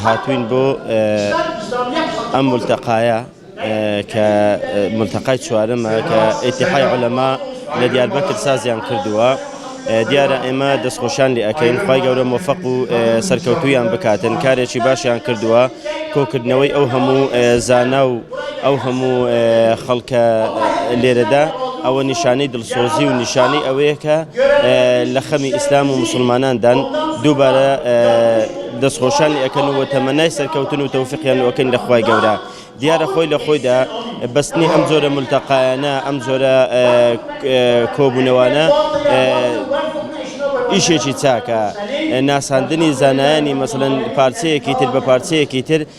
هاتووین بۆ ئەم مولتەقایە کە مولتەقای چوارەمە کە ئیتیحای عولەما لە دیاربەکر سازیان کردووە دیارە ئێمە دەستخۆشیان لێ ئەەکەین خی گەورە مۆفق و سەرکەوتویان بکاتن کارێکی باشیان کردووە کۆکردنەوەی ئەو هەموو زانا و ئەو هەموو خەڵکە لێرەدا ئەوە نیشانەی دڵسۆزی و نیشانەی ئەوەیە کە لە خەمی ئیسلام و مسلماناندان دووبارە دەستخۆشانی ئەەکەن و تەمەنای سەرکەوتن و تەوفقیان و ئەەکەن لە خخوای گەورە دیارە خۆی لە خۆیدا بەستنی ئەم جۆرە ملتەقایانە ئەم جۆرە کۆبوونەوانە ئیشێکی چاکە ناساندنی زانایانی مەسەن پارچەیەکی تر بە پارچەیەکی تر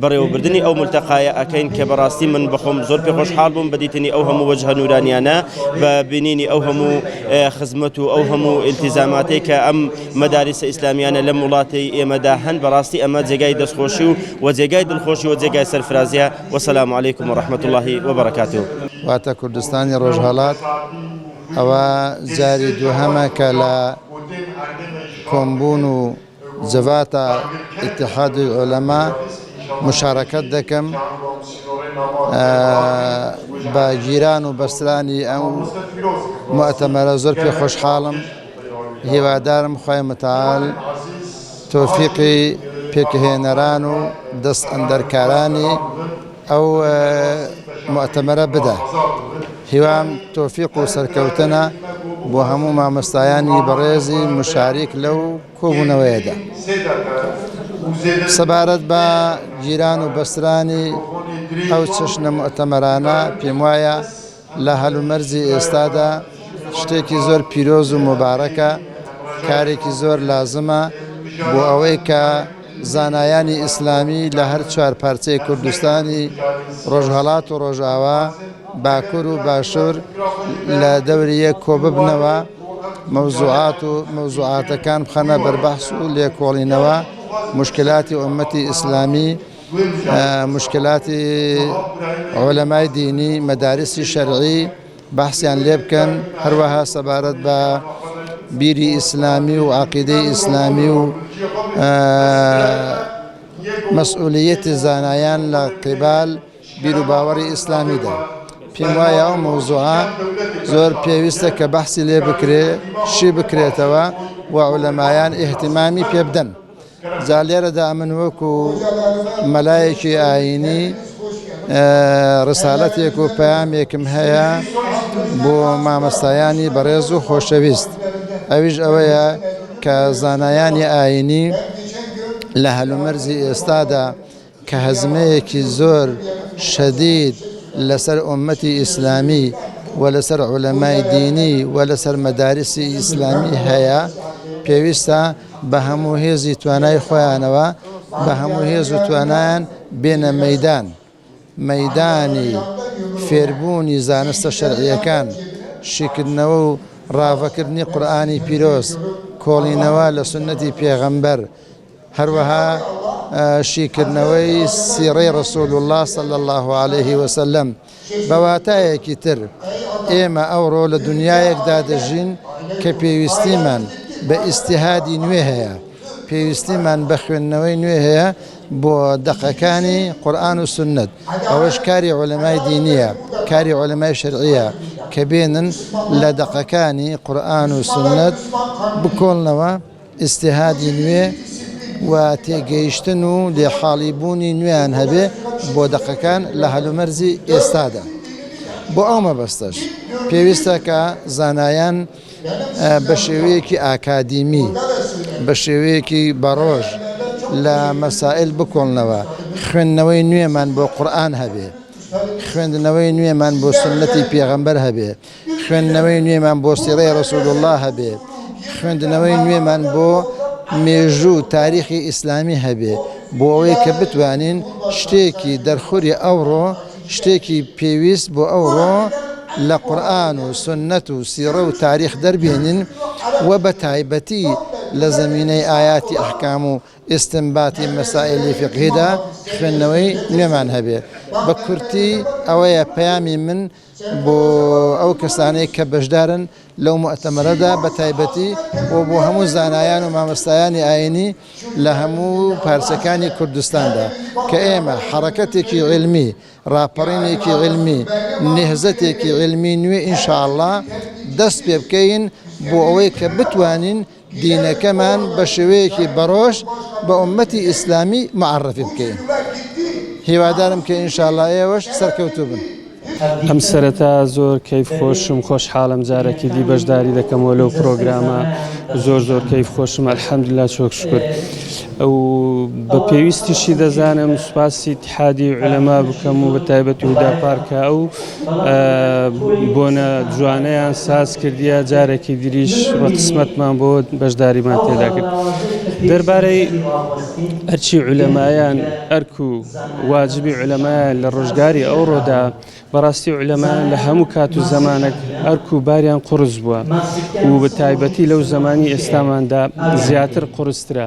بەڕێوەبردنی ئەو مولتەقایە ئەکەین کە بەڕاستی من بەخۆم زۆر پێ خۆشحاڵ بووم بە دیتنی ئەو هەموو وەجهە نورانیانە بە بینینی ئەو هەموو خزمەت و ئەو هەموو ئیلتیزاماتەی کە ئەم مەداریسە ئیسلامیانە لەم وڵاتی ئێمەدا هەن بەڕاستی ئەمە جێگای دەستخۆشی و وە جێگای دڵخۆشی وە جێگای سەرفرازیە وەسەلام علیکم و رحمەت اللە و بەڕەکاتوو. واتە کوردستانی ڕۆژهەڵات ئەوە جاری دووهەمە کە لە کۆمبوون و جڤاتا ئیتحادی عولەما مشارەکەت دەکەم بە گیران و بەسترانی ئەم مۆتەمەرە زۆر پێ خۆشحاڵم هیوادارم خۆی متال تۆفیقی پێکهێنەران و دەست ئەندەرکارانی ئەو موعتەمەرە بدە هیوام تۆفیق و سەرکەوتنە بۆ هەموو مامۆستایانی بەڕێزی مشاریک لەو کۆبوونەوەیەدا سەبارەت بە گیران و بەسترانی ئەو چەشنە موعتەمەرانە پێم وایە لە هەلومەرجی ئێستادا شتێکی زۆر پیرۆز و موبارەکە، کارێکی زۆر لازمە بۆ ئەوەی کە زانایانی ئیسلامی لە هەر چوار پارچەی کوردستانی ڕۆژهەڵات و ڕۆژاوا، باکور و باشور لە دەوری یەک کۆببنەوە، مەوزوعات و مەوزوعاتەکان بخەنە بەر بەحس و لێکۆڵینەوە، موشکیلاتی ئوممەتی ئیسلامی، مشکلاتی عولەمای دینی مەدارسی شەرعی بەحسیان لێ بکەن هەروەها سەبارەت بە بیری ئیسلامی و عقیدەی ئیسلامی و مەسئولەتی زانایان لە قیبال بیر و باوەڕی ئیسلامیدا پێم وایە ئەو مەوزوعە زۆر پێویستە کە بەحسی لێ بکرێ شی بکرێتەوە و عولەمایان ئیهتیمامی پێ بدەن. جا لێرەدا ئەمن وەکو مەلایەکی ئاینی ڕسالەتێک و پەیامێکم هەیە بۆ مامەستایانی بەڕێز و خۆشەویست ئەویش ئەوەیە کە زانایانی ئاینی لە هەلومەرزی ئێستادا کە هەزمەیەکی زۆر شەدید لەسەر ئۆمەتی ئیسلامی و لەسەر عولەمای دینی و لەسەر مەدارسی ئیسلامی هەیە پێویستە بە هەموو هێزی توانای خۆیانەوە بە هەموو هێز و توانایان بێنە مەیدان مەیدانی فێربوونی زانستە شەرعیەکان شیکردنەوە و ڕاڤەکردنی قورئانی پیرۆز کۆڵینەوە لە سوننەتی پێغەمبەر هەروەها شیکردنەوەی سیڕەی ڕەسول اللە صلی اللە علیە وسلم، بە واتایەکی تر ئێمە ئەوڕۆ لە دونیایەکدا دەژین کە پێویستیمان بە ئیجتیهادی نوێ هەیە، پێویستیمان بە خوێندنەوەی نوێ هەیە بۆ دەقەکانی قورئان و سوننەت، ئەوەش کاری عولەمای دینیە، کاری عولەمای شەرعیە کە بێنن لە دەقەکانی قورئان و سوننەت بکۆڵنەوە، ئیجتیهادی نوێ و تێگەیشتن و لێحاڵی بوونی نوێیان هەبێ بۆ دەقەکان لە هەلومەرجی ئێستادا. بۆ ئەو مەبەستەش پێویستە کە زانایان بە شێوەیەکی ئاکادیمی، بە شێوەیەکی بەڕۆژ لە مەسائیل بکۆڵنەوە، خوێندنەوەی نوێمان بۆ قورئان هەبێ، خوێندنەوەی نوێمان بۆ سوننەتی پێغەمبەر هەبێ، خوێندنەوەی نوێمان بۆ سیرەی رسول اللە هەبێ، خوێندنەوەی نوێمان بۆ مێژوو و تاریخی ئیسلامی هەبێ، بۆ ئەوەی کە بتوانین شتێکی دەرخوری ئەوڕۆ، شتێکی پێویست بۆ ئەوڕۆ لە قورئان و سوننەت و سیرە و تاریخ دەربێنین و بە تایبەتی لە زەمینەی ئایاتی ئەحکام و ئیستنباتی مەسائیلی فیقهیدا خوێندنەوەی نوێمان هەبێ. بە کورتی ئەوەیە پەیامی من. بۆ ئەو کەسانەی کە بەشدارن لەو موئتەمەرەدا بە تایبەتی و بۆ هەموو زانایان و مامۆستایانی ئایینی لە هەموو پارچەکانی کوردستاندا کە ئێمە حەڕەکەتێکی عیلمی، ڕاپەڕینێکی عیلمی، نێهزەتێکی عیلمی نوێ ئینشاڵڵا دەست پێ بکەین بۆ ئەوەی کە بتوانین دینەکەمان بە شێوەیەکی بەڕۆژ بە ئوممەتی ئیسلامی معەڕەفی بکەین هیوادارم کە ان شاءاللە ئێوەش سەرکەوتووبن. ئەم سەرەتا زۆر کەیف خۆشم خۆشحاڵم جارەکی دی بەشداری دەکەمەوە لەو پرۆگرامە زۆر زۆر کەیف خۆشم الحمدلله چۆک شکر ئەو بە پێویستیشی دەزانم سوپاسی تحادی علەما بکەم و بە تایبەت و دا پارکە ئەو بۆنە جوانەیان ساز کردیە جارێکی دریش وە قسمەتمان بۆ بەشداریمان تێدا کرد دەربارەی ئەرچی علەمایان ئەرک و واجبی علەمایان لە ڕۆژگاری ئەو ڕۆدا بەڕاستی علەمان لە هەموو کات و زمانێک ئەرک و باریان قرس بووە و بە تایبەتی لەو زمانی ئێستاماندا زیاتر قرسترە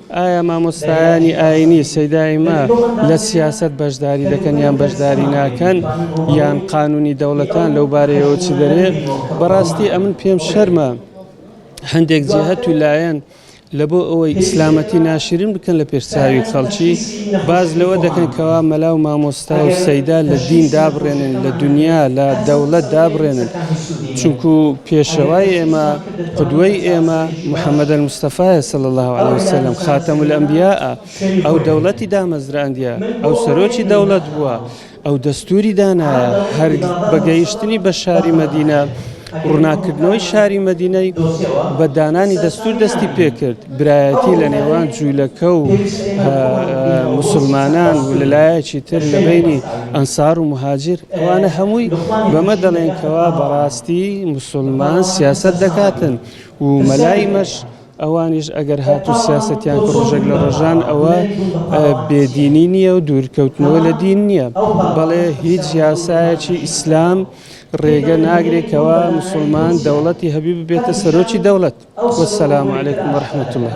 ئایا مامۆستایانی ئاینی سەیدائیمە لە سیاسەت بەشداری دەکەن یان بەشداری ناکەن یان قانونی دەوڵەتان لەو بارەیەوە چ دەرێ بەڕاستی ئەمن پێم شەرمە هەندێک جێهت و لایەن لە بۆ ئەوەی ئیسلامەتی ناشرین بکەن لە پێشچوی خەڵکی باز لەوە دەکەن کەوا مەلا و مامۆستا و سەیدا لە دین دابڕێنن لە دنیا لە دەوڵەت دابڕێنن چونکو پێشەوای ئێمە قدوەی ئێمە محمد المستەفا صلی الله علیه وسلم خاتم الانبیاء ئەو دەوڵەتی دامەزراندە ئەو سەرۆکی دەوڵەت بووە ئەو دەستوری دانا هەر بەگەیشتنی بە شاری مدینە ڕووناکردنەوەی شاری مدینەی بە دانانی دەستور دەستی پێکرد برایەتی لە نێوان جوولەکە و موسڵمانان و لەلایەکی تر لە بینی ئەنسار و مهاجر ئەوانە هەمووی بەمە دەڵێن کەوا بەڕاستی مسلمان سیاست دەکاتن و مەلای مەش ئەوانیش ئەگەر هاتو سیاستیان ڕۆژێک لە ڕۆژان ئەوە بێدینی نییە و دوورکەوتنەوە لە دین نییە بەڵێ هیچ یاسایەکی ئیسلام ڕێگە ناگرێت کەوا مسوڵمان دەوڵەتی هەبی ببێتە سەرۆکی دەوڵەت وەسەلام علیکم ورحمة الله.